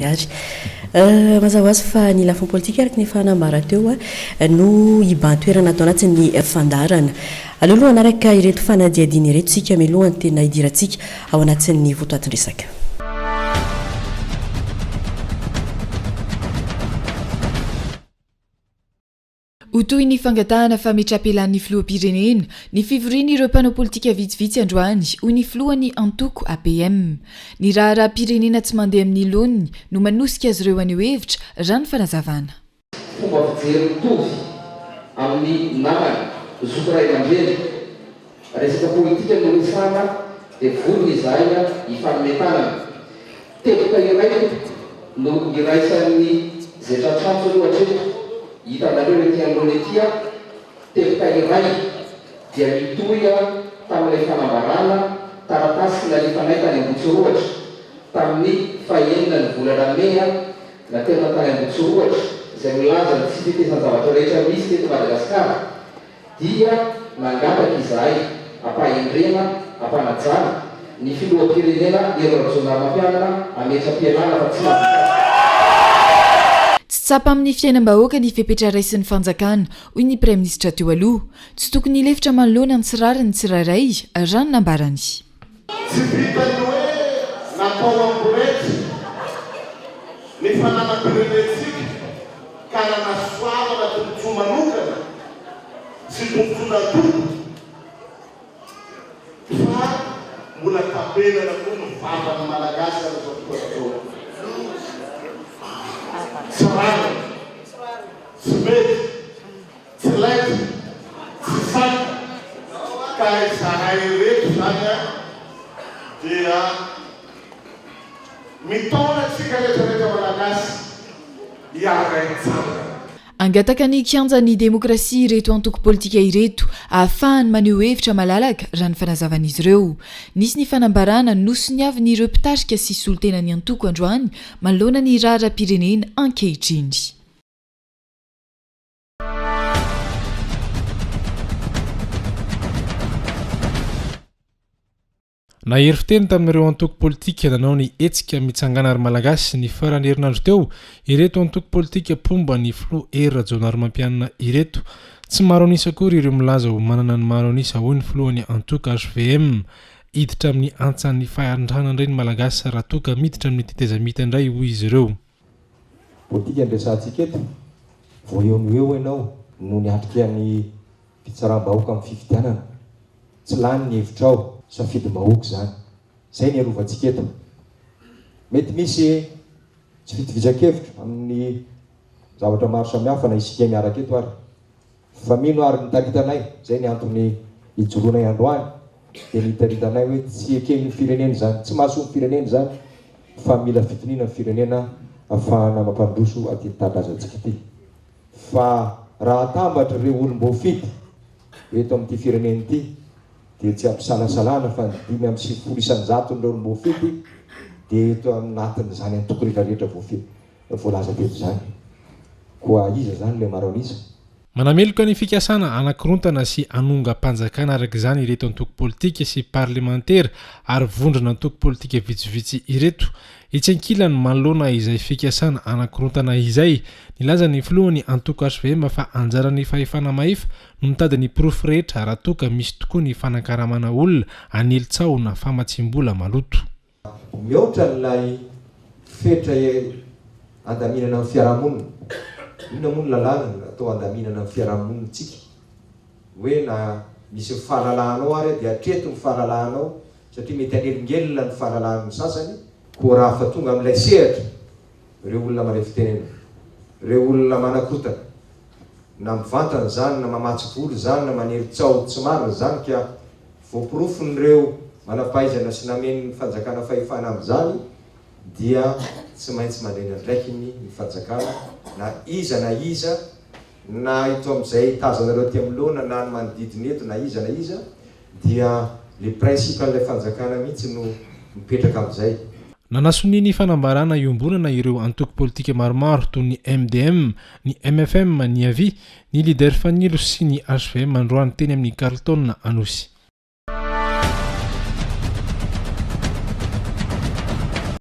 Miary. Mazava ho azy fa ny lafiny politika araka ny efa nambara teo no hibahan-toerana ato anatin'ny fandaharana. Aleo aloha hanaraka ireto fanadihadiana ireto isika mialoha ny tena hidirantsika ao anatin'ny votoatin-dresaka. Ho toy ny fangatahana fametrapelaan'ny filoham-pirenena ny fivorian'ireo mpanao politika vitsivitsy androany, hoy ny filohan'ny antoko APM. Ny raharaham-pirenena tsy mandeha amin'ny laoniny no manosika azy ireo haneho hevitra, raha ny fanazavana. Fomba fijery mitovy amin'ny namana, zoky ray aman-dreny. Resaka politika no resahana dia vonona izahay ny hifanome tanana. Teboka iray tompoko no iraisan'ny izay tratr'antso aloha hatreto. Hitanareo ety anoloana ety an, teboka iray dia mitohy tamin'ilay fanambarana taratasy nalefanay tany Ambohitsirohatra tamin'ny fahenina ny volana mey naterina tany Ambohitsirohatra izay milaza ny tsy tetezan-javatra rehetra misy teto Madagasikara. dia nangataka izahay hampahendrena, hampanajana, ny Filoham-pirenena Hery Rajaonarimampianina hametra-pialana fa tsy mahavita. Tsy tsapa amin'ny fiainam-bahoaka ny fepetra raisin'ny fanjakana, hoy ny Praiminisitra teo aloha. Tsy tokony hilefitra manoloana ny tsy rariny ny tsirairay, raha ny nambarany. Tsy vitan'ny hoe natao hamborety ny fananam-pirenentsika ka nanasoavana tombontsoa manokana sy tombontsoan'antoka fa mbola tapenana koa ny vavan'ny Malagasy amin'izao fotoana izao. Tsy rariny. Tsy mety. Tsy laiza, tsy saina, ka izahay ireto izany an, dia mitaona antsika rehetrarehetra Malagasy hiara hitsangana. Hangataka ny kianjan'ny demokrasia ireto antoko politika ireto, ahafahany maneho hevitra malalaka, raha ny fanazavan'izy ireo. Nisy ny fanambarana nosoniavin'ireo mpitarika sy solontenan'ny antoko androany manoloana ny raharaham-pirenena ankehitriny. Nahery fiteny tamin'ireo antoko politika nanao ny hetsika Mitsangàna ry Malagasy ny faran'ny herinandro teo ireto antoko politika mpomba ny filoha Hery Rajaonarimampianina ireto. Tsy maro an'isa akory ireo milaza ho manana ny maro an'isa hoy ny filohan'ny antoko hvm. Hiditra amin'ny antsan'ny fahantrana indray ny Malagasy raha toa ka miditra amin'ny tetezamita indray hoy izy ireo. Politika no resahantsika eto. Vao eo no eo ianao no niatrika ny fitsaram-bahoaka amin'ny fifidianana. Tsy lany ny hevitrao. Safidim-bahoaka izany. Izay no iarovantsika eto. Mety misy tsy fitovisan-kevitra amin'ny zavatra maro samihafa na isika miaraka eto ary. Fa mino ary mitarita anay, izay ny antony ijoroanay androany, dia mitarita anay hoe tsy eken'ny firenena izany, tsy mahasoa ny firenena izany fa mila fitoniana ny firenena afahana mampandroso aty tanindrazantsika ity. Fa raha atambatra ireo olom-boafidy eto amin'ity firenena ity dia tsy ampisalasalana fa ny dimy amby sivifolo isan-jaton'ireo olom-boafidy dia eto anatin'izany antoko rehetra rehetra voafidy. Voalaza teto izany. Koa iza izany ilay maro an'isa? Manameloka ny fikasana hanakorontana sy hanongam-panjakana araka izany ireto antoko politika sy parlemantera ary vondrona antoko politika vitsivitsy ireto. Etsy ankilany, manoloana izay fikasana hanakorontana izay, nilaza ny filohan'ny antoko hvm fa anjaran'ny fahefana mahefa no mitady ny porofo rehetra raha toa ka misy tokoa ny fanankaramana olona hanely tsaho na famatsiam-bola maloto. Mihoatra an'ilay fetra handaminana ny fiarahamonina. Inona moa ny lalàna atao handaminana ny fiarahamonintsika? Hoe na misy ny fahalalahanao ary dia hatreto ny fahalalahanao satria mety hanelingelina ny fahalalahan'ny sasany koa raha fa tonga amin'ilay sehatra ireo olona mandray fitenenana, ireo olona manakotaka na mivantana izany na mamatsy vola izany na manely tsaho tsy marina izany ka Voaporofon'ireo manam-pahaizana sy namen'ny fanjakana fahefana amin'izany dia tsy maintsy mandray ny andraikiny ny fanjakana na iza na iza na eto amin'izay tazanareo aty anoloana na ny manodidina eto na iza na iza dia le principe an'ilay fanjakana mihitsy no mipetraka amin'izay. Nanasonia ny fanambarana iombonana ireo antoko politika maromaro toy ny MDM, ny mfm, ny avi, Ny Leader Fanilo sy ny HVM androany teny amin'ny Carlton Anosy.